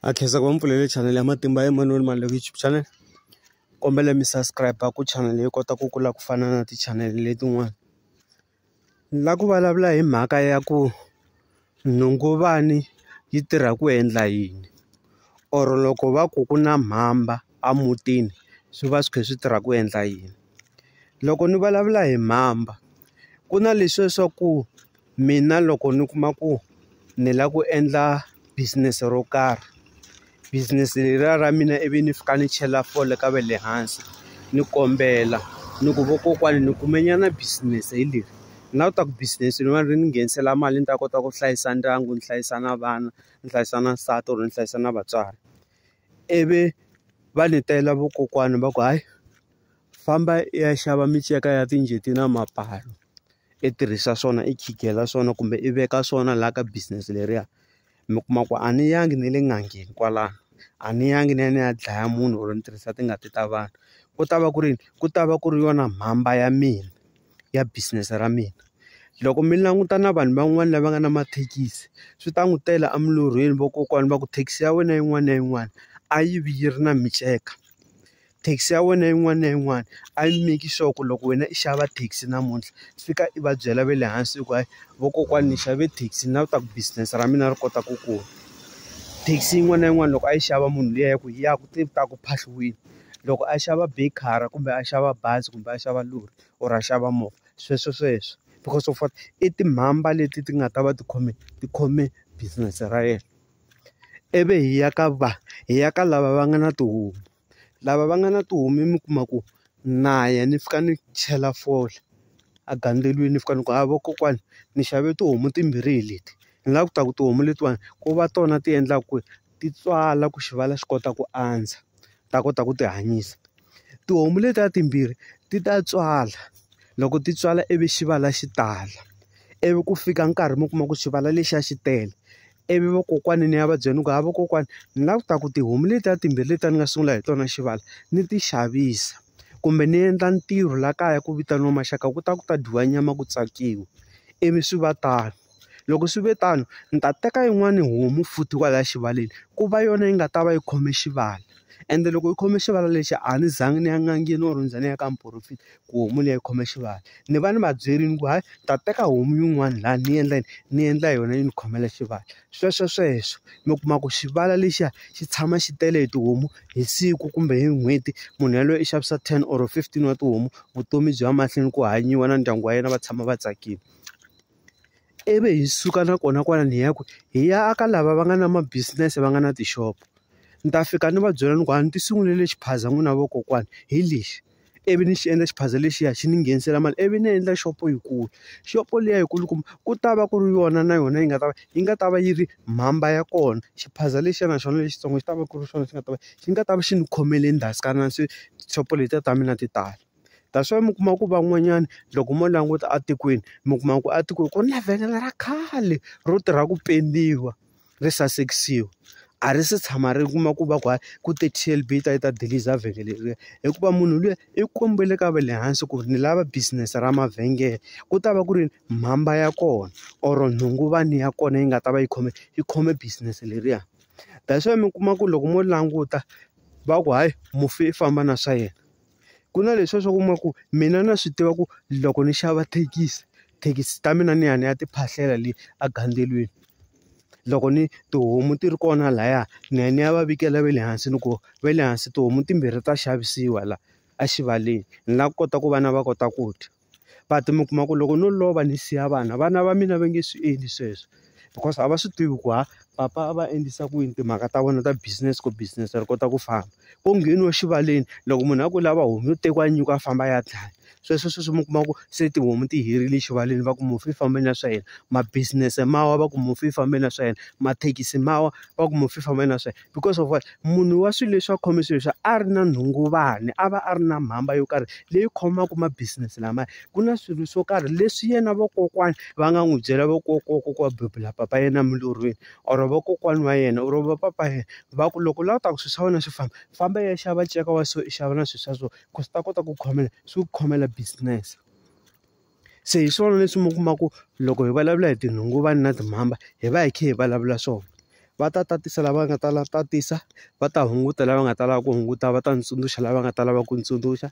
a khensa ku va mi pfulele channel ya matimba ya manoni mali loko youtube channel kombela mi subscribe ku channel yi kota ku kula ku fana na ti channel letin'wana la ku vulavula hi mhaka ya ku nhunguvani yi tirha ku endla yini or loko va ku ku na mhamba a mutini swi va swi kha swi tirha ku endla yini loko ni vulavula hi mhamba ku na leswiya swa ku. Mina loko ni kuma ku ni lava ku endla business ro karhi business leriya ra mina ivi ni fika ni chela fole ka va le hansi ni kombela ni ku vakokwani ni kume nyana business hi leri ni lava ku ta ku business leriwani ri ni nghenisela mali ni ta kota ku hlayisa ndyangu ni hlayisa na vana ni hlayisa na nsati or ni hlayisa na vatswari ivi va ni tela vakokwani va ku hayi famba i ya xava minceka ya timbuti na mapalu. i tirhisa swona i khingela swona kumbe i veka swona laha ka business leriya mi kuma ku a ni yangi ni le n'angeni kwalano a ni yangi ni ya ni ya dlaya munhu or ni tirhisa tingati ta vanhu ku ta va ku ri ku ta va ku ri yona mhamba ya mina ya business ra mina loko mi languta na vanhu van'wani lava nga na mathekisi swi ta n'wi tela a milorhweni vakokwani va ku thekisi ya wena yin'wana na yin'wana a yi vi yi ri na miceka. Taxi ya wena yin'wana na yin'wana a yi make sure ku loko wena i xava taxi namuntlha i fika i va byela va le hansi ku hayi vakokwani ni xave taxi ni lava ta ku business ra mina ri kota ku kula taxi yin'wana na yin'wana loko a yi xava munhu liya ya ku yi ya ku te ta ku phahliwini loko a xava be car kumbe a xava bazi kumbe a xava lori or a xava movha sweswo sweswo because of what i timhamba leti ti nga ta va ti khome ti khome business ra yena ivi hi ya ka va hi ya ka lava va nga na tihomu. lava va nga na tihomu mi kuma ku na ya ni fika ni chela fole a gandzelweni ni fika ni ku ha vakokwani ni xave tihomu timbirhi hi leti hi nga ku ta ku tihomu letiwani ku va tona ti endlaka ku ti tswala ku xivala xi kota ku andza ta kota ku ti hanyisa tihomu letiya timbirhi ti ta tswala loko ti tswala ivi xivala xi tala ivi ku fika nkarhi mi kuma ku xivala lexiya xi tele ivi vakokwani ni ya va byela ni ku ha vakokwani ni lava ku ta ku tihomu letiya timbirhi letiya ni nga sungula hi tona xivala ni ti xavisa kumbe ni endla ntirho laha kaya ku vitaniwa maxaka ku ta ku ta dyiwa nyama ku tsakiwa ivi swi va tano loko swi ve tano ni ta teka yin'wani homu futhi kwalaya xivaleni ku va yona yi nga ta va yi khome xivala ende loko yi khome xivala lexi a ni zanga ni ya n'angeni or ni ze ni ya ka muporofeta ku homu liya yi khome xivati ni va ni va byele ni ku hayi ni ta teka homu yin'wana laha ni endla yini ni endla yona yi ni khomela xivati sweswo sweswo mi kuma ku xivala lexiya xi tshama xi tele hi tihomu hi siku kumbe hi n'hweti munhu yaloye i xavisa ten or fifteen wa tihomu vutomi byi ya mahlweni ku hanyiwa na ndyangu wa yena va tshama va tsakile ivi hi suka nakona kwalano hi ya ku hi ya aka lava va nga na ma business va nga na tixopo ni ta fika ni va byela ni ku a ni ti sungulele xiphaza n'wina vakokwani hi lexi. ivi ni xi endla xiphaza lexiya xi ni nghenisela mali ivi ni endla xopo yikulu xopo liya yi kulukumba ku ta va ku ri yona na yona yi nga ta va yi nga ta va yi ri mhamba ya kona xiphaza lexiya na xona lexitsongo xi ta va ku ri swona swi nga ta va xi nga ta va xi ni khomele ndhasikana se xopo letiya ta mina ti tala that's why mi kuma ku van'wanyana loko mo languta etikweni mi kuma ku a tikweni ku ri na vhengele ra khale ro tirha ku pendiwa. ri sasekisiwa a ri se tshama ri kuma ku va ku hayi ku te T_L_B yi ta yi ta dilisa vhengele leriya hikuva munhu luya i kombele ka va le hansi ku ri ni lava business ra mavhengele ku ta va ku ri mhamba ya kona or nhunguvani ya kona yi nga ta va yi khome yi khome business leriya that's why mi kuma ku loko mo languta va ku hayi mufi i famba na swa yena. Ku na leswiya swa ku kuma ku mina na swi tiva ku loko ni xava thekisi, thekisi ta mina ni ya ni ya ti phahlela le egandzelweni. Loko ni tihomu ti ri kona lahaya ni ya ni ya va vikela va le hansi ni ku va le hansi tihomu timbirhi ta xavisiwa laha exivaleni. Ni lava ku kota ku vana va kota ku dya. but mi kuma ku loko no lova ni siya vana vana va mina va nge swi endli sweswo because a va swi tivi ku ha papa a va endlisa ku yini timhaka ta vona ta business ku business ri kota ku famba ko ngheniwa exivaleni loko munhu a ku lava homu yo tekiwa nyuku a famba a ya dlaya sweswo sweswo mi kuma ku se tihomu ti herile exivaleni va ku mufi i fambile na swa yena ma business ma wa va ku mufi i fambile na swa yena mathekisi ma wa va ku mufi i fambile na swa yena. because of what? Munhu wa swilo leswi a khome swilo leswi a ri na nhunguvani, a va a ri na mhamba yo karhi leyi khomaka ma-business lamaya. Ku na swilo swo karhi leswi yena vakokwana va nga n'wi byela vakokwana bebula papa yena emilorhweni or vakokwana wa yena or va papa yena, va ku loko u lava ku ta ku swilo swa wena swi famba, famba i ya xava nceka wa so, i xava na swilo swa so ku swi ta kota ku khomela swi ku khomela business. Se hi swona leswi mi kuma ku loko hi vulavula hi tinhunguvani na timhamba hi va hi kha hi vulavula swona va ta tatisa lava nga ta lava tatisa va ta hunguta lava nga ta lava ku hunguta va ta ndzi tsundzuxa lava nga ta lava ku ndzi tsundzuxa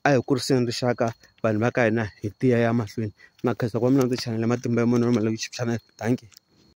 a hi kuriseni rixaka vanhu va ka hina hi tiya ya mahlweni na khensa ku va mi languta chanel ya matimba ya munhu na mali ya ku chikicha na dankie.